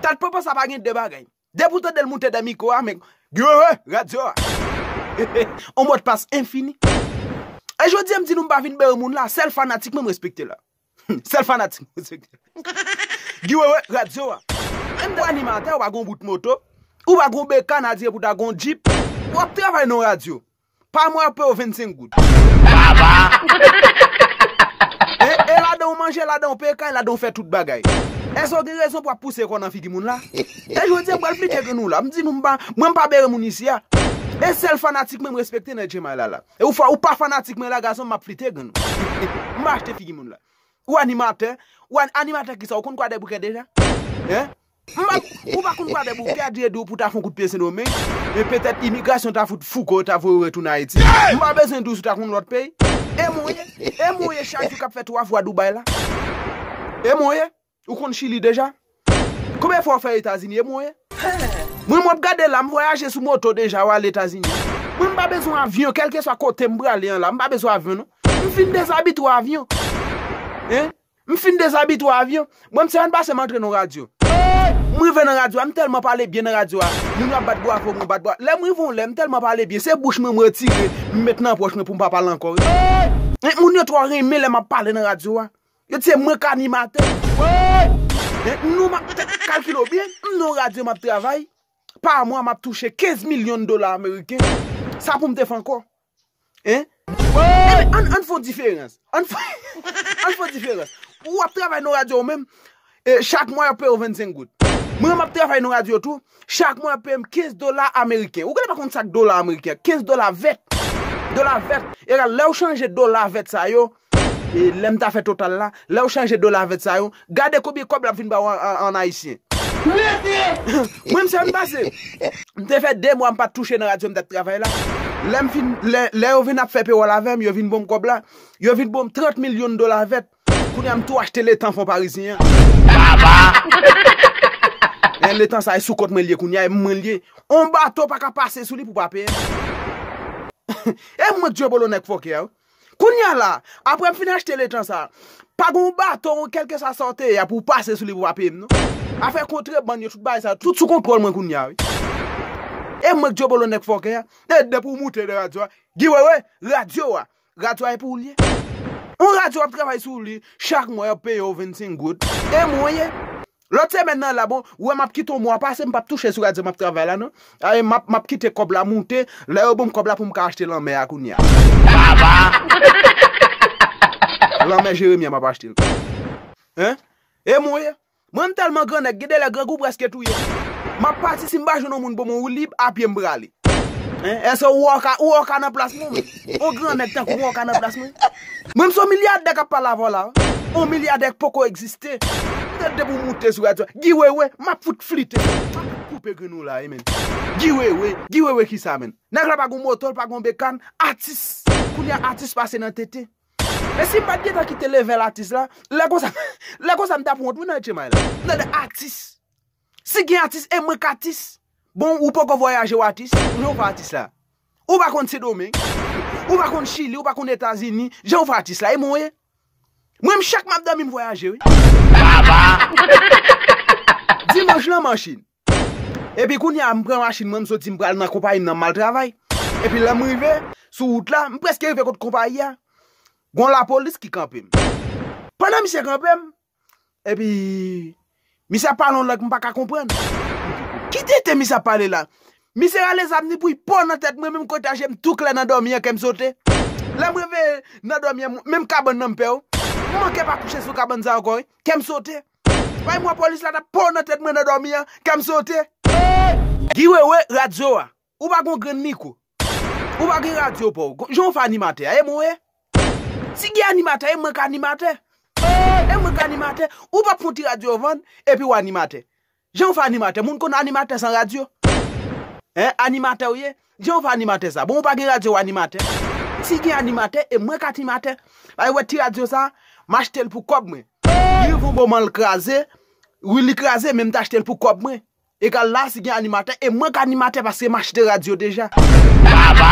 Tèt popo sa pa gen de bagay. Depi w tande l moute dè mikwo a men Giohee radyo a on mo de passe infini E jodi a m di nou m pa vin bere moun la sèl fanatik mwen m respekte la Sèl fanatik mwen respekte la Giohee radyo a Menm de animatè ou pa gen on bout moto ou pa gen on bekan adye pou ta gen on djip Wap travay nan on radyo Pa mwen yo pew 25 goud. E ladan ou manje, ladan ou peye kay, ladan ou fè tout bagay. Èske ou gen rezon pou ap pouse kò nan figi moun la? E jodi a m pral plide ke nou la. M di nou m pa, mwen m pa bere moun isi a. E sèl fanatik mwen m respekte nan Djemay la la. E ou fwa ou pa fanatik mwen la gason m ap flite gen nou. M pa achte figi moun la. Ou animatè, ou animatè kisa ou konn kwadèboukè deja? M pa Ou pa konn bradè bouke a dye di w pou w ta fon kout pye Sendomeng, men petèt imigrasyon ta fout fouke w ta voye w retounen Ayiti. M pa bezwen di w si w ta konn lòt peyi. E mwen ye? E mwen ye chak jou k ap fè twa fwa Dubai la? E mwen ye? Ou konn Chili deja? Konbyen fwa w fè Etazini? E mwen ye? Mwen menm w ap gade la, m vwayaje sou moto deja, w al Etazini. Mwen m pa bezwen avyon, kèlkeswa kote m prale an la, m pa bezwen avyon non. M fin dezabitwe avyon. Hein? M fin dezabitwe avyon. Bon m se ann pase m antre nan radyo. M rive nan radyo a, m tèlman pale byen nan radyo a, moun yo ap bat bwavo mwen bat bwavo. Lè m rive yon lè, m tèlman pale byen, se bouch mwen m retire, m met nan pòch mwen pou m pa pale ankò. Moun yo twò renmen lè m ap pale nan radyo a. Yo di se mwen k animatè. Nou m ap kalkile w byen, m nan yon radyo m ap travay, pa mwa m ap touche 15 milyon dola ameriken. Sa pou m te fè ankò? Hein? Woyy! Ann ann fon diferans. Ann fon diferans. Ou ap travay nan yon radyo ou menm, chak mwa y ap peye ou 25 goud. Mwen menm m ap travay nan yon radyo tou, chak mwa y ap peye m 15 dola ameriken. Ou genlè pa konn sa k dola ameriken. 15 dola vèt. Dola vèt. Egal lè ou chanje dola vèt sa yo Lè m ta fè total la, lè ou chanje dola vèt sa yo, gade konbyen kòb l ap vin ba ou an ayisyen. Mete! Mwen m sa m pase. M te fè 2 mwa m pa t touche nan radyo m t ap travay la. Lè m fin, lè yo vin ap fè pewòl avè m, yo vin bo m kòb la. Yo vin bo m 30 mil yon dola vèt. Kounye a m tou achte letan fon parizyen an. Aba! Men letan sa e sou kont mwen li ye kounye a, e mwen li ye. On bato pa ka pase sou li pou pa peye m. E mwen k djwebolo nèg fòkè a wi. Kounya la, aprè m fin achte letan sa, pa gon baton ou kèlkeswa sa w te ye a pou w pase sou li pou w pa peye m non. Afè kontrebann yo, tout bagay sa yo, tout sou kontwòl mwen kounya wi. E mwen k dyòbolo nèg fòkè a? E depi w moute nan radyo a, Guy Wewe, radyo a, radyo a e pou ou l ye? Yon radyo w ap travay sou li, chak mwa y ap peye w 25 goud, e mwen w ye? Lòt semèn nan la bon, ou wè map kite yon mwa pase m pap touche sou radyo map travay la non. Ae map map kite kòb la moute, lè yo banm kòb la poum ka achte lanmè a kounye a. Baba! Lanmè Jeremi a map achte l kounye a. Hein? E mwen ye? Mwen m tèlman gran nèg gen de lè grangou prèske touye m. Map pati si m pa jwenn yon moun pou mwen woulib, a pye m prale. Eske ou wè oka nan plas mwen menm? On gran nèg tankou mwen oka nan plas mwen? Mwen menm se yon milyadè kap pale avè w la wi. On milyadè ki poko egziste. Gade depi w moute sou radyo a. Guy Wewe, map fout flite w. Map fout koupe grenn ou la wi menn. Guy Wewe, Guy Wewe kisa menn? Nèg la pa gon moto, li pa gon bekàn, atis. Kounye a atis pase nan tete. Men si m pat gentan kite level atis la, lè konsa, lè konsa m tap wont wi nan etchemay la. Tande atis. Si gen atis e mwen k atis. Bon ou poko vwayaje w atis, jan ou fè atis la? Ou pa konn sendomeng, ou pa konn chili, ou pa konn etazini, jan ou fè atis la? E mwen ye? Mwen m chak map domi m vwayaje wi. Dimanch lan machin. Epi kounye a m pran machin mwen m soti m pral nan konpayi m nan m al travay. Epi lèm rive sou wout la, m preske rive kot konpayi a, gon lapolis ki kanpe m. Pandan misye kanpe m, Epi Misye ap pale yon lang m paka konprann. Ki tenten misye ap pale la? Misye rale zam ni bouyi po nan tèt mwen menm kote a jem tou klè nan dòmi an kèm sote. Lèm reveye nan dòmi an menm kabann nan m pè w. M manke pa kouche sou kabann sa ankò wi. Kèm sote. Bay m wè polis la tap po nan tèt mwen nan dòmi an kèm sote. Guy wewe radio a Ou pa gon grenn micro. Ou pa gen radio paw. Gon jan ou fè animatè a. E mwen ye. Si gen animatè e mwen k animatè. Ooh e mwen k animatè. Ou pap fon ti radio vann epi ou animatè. Jan ou fè animatè. Moun konn animatè san radio. Hein animatè ou ye. Jan ou fè animatè sa. Bon ou pa gen radio ou animatè. Si gen animatè e mwen k animatè. Bay wè ti radio sa. M achte l pou kob mwen. Li revon bon man l kraze. Wi li kraze men m t achte l pou kob mwen. Egal la si gen animatè e mwen k animatè paske m achte radyo deja. Baba!